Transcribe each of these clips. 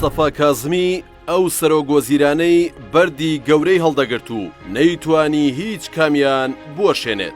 مستەفا کازمی ئەو سەرۆک وەزیرانەی بەردی گەورەی هەڵدەگرت و نەیتوانی هیچ کامیان بوەشێنێت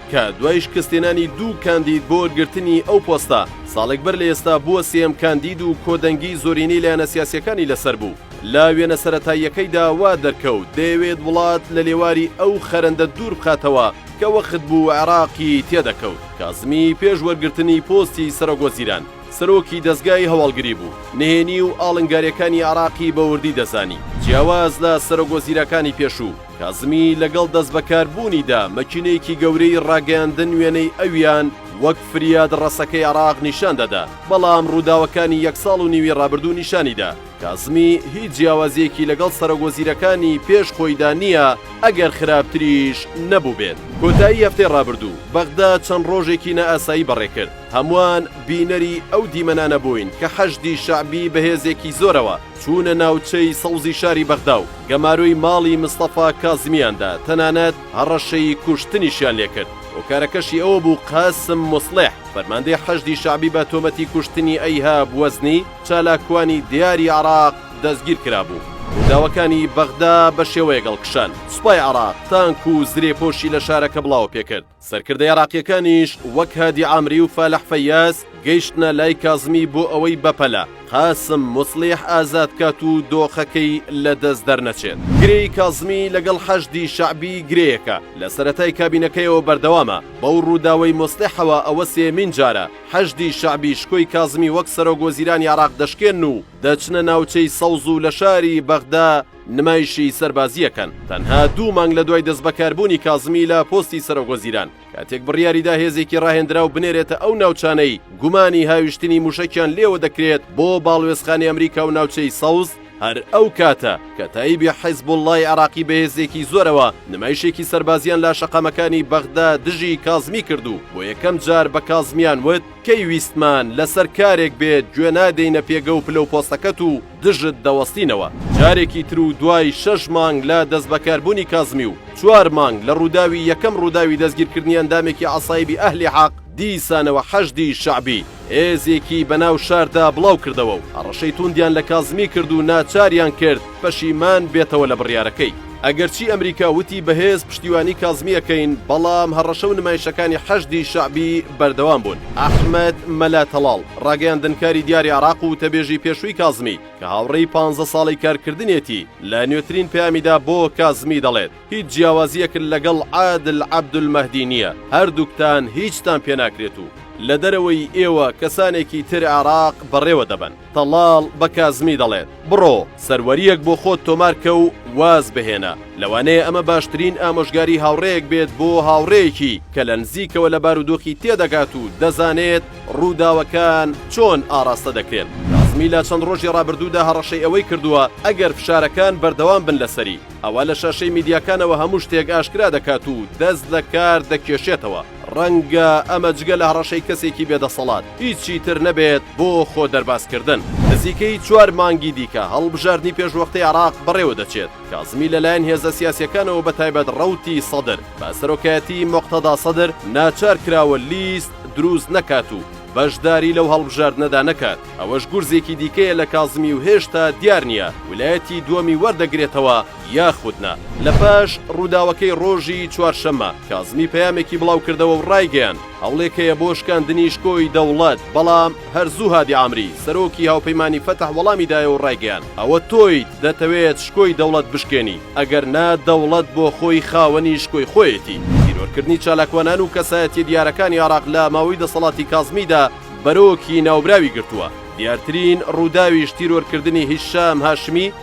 کە دوای شکستهێنانی دوو کاندید بۆ وەرگرتنی ئەو پۆستە، ساڵێک بەر لە ئێستا بووە سێیەم کاندید و کۆدەنگیی زۆرینەی لایەنە سیاسییەکانی لەسەر بوو. لە وێنە سەرەتاییەکەیدا وا دەرکەوت دەیەوێت وڵات لە لێواری ئەو خەرەندە دوور بخاتەوە کە وەخت بوو عێراقی تێ دەکەوت. کازمی پێش وەرگرتنی پۆستی سەرۆکوەزیران، سەرۆکی دەزگای هەواڵگری بوو، نهێنی و ئاڵنگارییەکانی عێراقی بە وردی دەزانی، جیاواز لە سەرۆکوەزیرەکانی پێشوو، کازمی لەگەڵ دەستبەکاربوونیدا مەکینەیەکی گەورەی ڕاگەیاندن وێنەی ئەویان وەک فریاد ڕەسەکەی عێراق نیشان دەدا، بەڵام ڕووداوەکانی یەک ساڵ و نیوی ڕابردوو نیشانیدا کازمی هیچ جیاوازییەکی لەگەڵ سەرۆکوەزیرەکانی پێش خۆیدا نییە، ئەگەر خراپتریش نەبووبێت. کۆتایی هەفتەی ڕابردوو بەغدا چەند ڕۆژێکی نائاسایی بەڕێکرد، هەمووان بینەری ئەو دیمەنانە بووین کە حەشدی شەعبی بە هێزێکی زۆرەوە چوونە ناوچەی سەوزی شاری بەغدا و، گەمارۆی ماڵی مستەفا کازمیاندا، تەنانەت هەڕەشەی کوشتنیشیان لێکرد، هۆکارەکەشی ئەوە بوو قاسم موسڵیح، فەرماندەی حەشدی شەعبی بە تۆمەتی کوشتنی ئەیهاب وەزنی، چالاکوانی دیاری عێراق دەستگیر کرابوو. رووداوەکانی بەغدا بەشێوەیەک هەڵکشان، سوپای عێراق تانک و زرێپۆشی لە شارەکە بڵاوەپێکرد. سەرکردە ئێراقییەکانیش وەک هادی عامری و فالح فەیاس گەیشتنە لای کازمی بۆ ئەوەی بەپەلە قاسم موسڵیح ئازاد کات و دۆخەکەی لە دەست دەرنەچێت. گرێی کازمی لەگەڵ حەشدی شەعبی گرێیەکە لە سەرەتای کابینەکەیەوە بەردەوامە، بەو ڕووداوەی موسڵیحەوە ئەوە سێیەمین جارە حەشدی شەعبی شکۆی کازمی وەک سەرۆک وەزیرانی عێراق دەشکێن و دەچنە ناوچەی سەوز و لە شاری بەغدا نمایشی سەربازییەکان تەنها دوو مانگ لە دوای دەستبەکاربوونی کازمی لە پۆستی سەرۆکوەزیران، کاتێک بڕیاریدا هێزێکی ڕاهێندراو بنێرێتە ئەو ناوچانەی گومانی هاویشتنی موشەکیان لێوە دەکرێت بۆ باڵوێزخانی ئەمریکا و ناوچەی سەوز، هەر ئەو کاتە کەتائیبی حیزبوڵڵای عێراقی بەهێزێکی زۆرەوە نمایشێکی سەربازیان لاشەقامەکانی بەغدا دژی کازمی کرد و بۆ یەکەم جار بە کازمیان وت، کەی ویستمان لەسەر کارێک بێت گوێنادەینە پێگە و پلە و پۆستەکەت و، دژت دەوەستینەوە. جارێکی تر و دوای شەش مانگ لە دەستبەکاربوونی کازمی و چوار مانگ لە ڕووداوی یەکەم ڕووداوی دەستگیرکردنی ئەندامێکی عەسایبی ئەهلی حەق، دیسانەوە حەشدی شەعبی هێزێکی بەناو شاردا بڵاوکردەوە و هەڕەشەی تووندیان لە کازمی کرد و ناچاریان کرد پەشیمان بێتەوە لە بڕیارەکەی. ئەگەرچی ئەمریکا وتی بەهێز پشتیوانی کازمی ئەکەین، بەڵام هەڕەشە و نمایشەکانی حەشدی شەعبی بەردەوام بوون. ئەحمەد مەلا تەڵاڵ، ڕاگەیاندنکاری دیاری عێراق و وتەبێژی پێشووی کازمی، کە هاوڕێی پانزە ساڵەی کارکردنیەتی، لە نوێترین پەیامیدا بۆ کازمی دەڵێت هیچ جیاوازییەکت لەگەڵ عادل عەبدولمەهدی نییە، هەردووکتان هیچتان پێناکرێت و لە دەرەوەی ئێوە کەسانێکی تر عێراق بەڕێوەدەبەن. تەڵاڵ بە کازمی دەڵێت، بڕۆ سەروەرییەک بۆ خۆت تۆمار کە و واز بهێنە. لەوانەیە ئەمە باشترین ئامۆژگاری هاوڕێیەک بێت بۆ هاوڕێیەکی کە لە نزیکەوە لە بارودۆخی تێدەگات و دەزانێت ڕووداوەکان چۆن ئاڕاستە دەکرێن. کازمی لە چەند ڕۆژی ڕابردوودا هەڕەشەی ئەوەی کردووە ئەگەر فشارەکان بەردەوام بن لەسەری، ئەوا لە شاشەی میدیاکانەوە هەموو شتێک ئاشکرا دەکات و دەست لە کار دەکێشێتەوە. ڕەنگە ئەمە جگە لە هەڕەشەی کەسێکی بێ دەسەڵات هیچی تر نەبێت بۆ خۆ دەرباز کردن. نزیکەی چوار مانگی دیکە هەڵبژاردنی پێشوەختەی عێراق بەڕێوە دەچێت، کازمی لە لایەن هێزە سیاسیەکانەوە بە تایبەت ڕەوتی سەدر بە سەرۆکایەتی موقتەدا سەدر ناچار کراوە لیست دروست نەکات و بەشداری لەو هەڵبژاردنەدا نەکات، ئەوەش گورزێکی دیکەیە لە کازمی و هێشتا دیار نیە ولایەتی دوەمی وەردەگرێتەوە، یاخود نا. لە پاش ڕووداوەکەی ڕۆژی چوارشەممە، کازمی پەیامێکی بڵاوکردەوە و ڕایگەیاند، هەوڵێک هەیە بۆ شکاندنی شکۆی دەوڵەت، بەڵام هەر زوو هادی عامری، سەرۆکی هاوپەیمانی فەتح وەڵامی دایەوە و ڕایگەیاند، ئەوە تۆیت دەتەوێت شکۆی دەوڵەت بشکێنی، ئەگەر نا دەوڵەت بۆ خۆی خاوەنی شکۆی خۆیەتی. تیرۆرکردنی چالاکوانان و کەسایەتییە دیارەکانی عێراق لە ماوەی دەسەڵاتی کازمیدا بەرۆکی ناوبراوی گرتووە، دیارترین ڕووداویش تیرۆرکردنی هیشام هاشمی،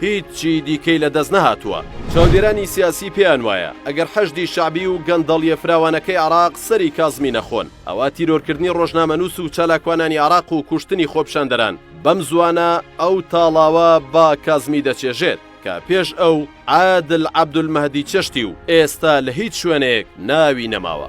هیچی دیکەی لە دەست نەهاتووە. چاودێرانی سیاسی پێیان وایە ئەگەر حەشدی شەعبی و گەندەڵیە فراوانەکەی عێراق سەری کازمی نەخۆن، ئەوا تیرۆرکردنی ڕۆژنامەنووس و چالاکوانانی عێراق و کوشتنی خۆپیشاندەران بەم زووانە ئەو تاڵاوە بە کازمی دەچێژێت کە پێش ئەو عادل عەبدولمەهدی چێشتی و ئێستا لە هیچ شوێنێک ناوی نەماوە.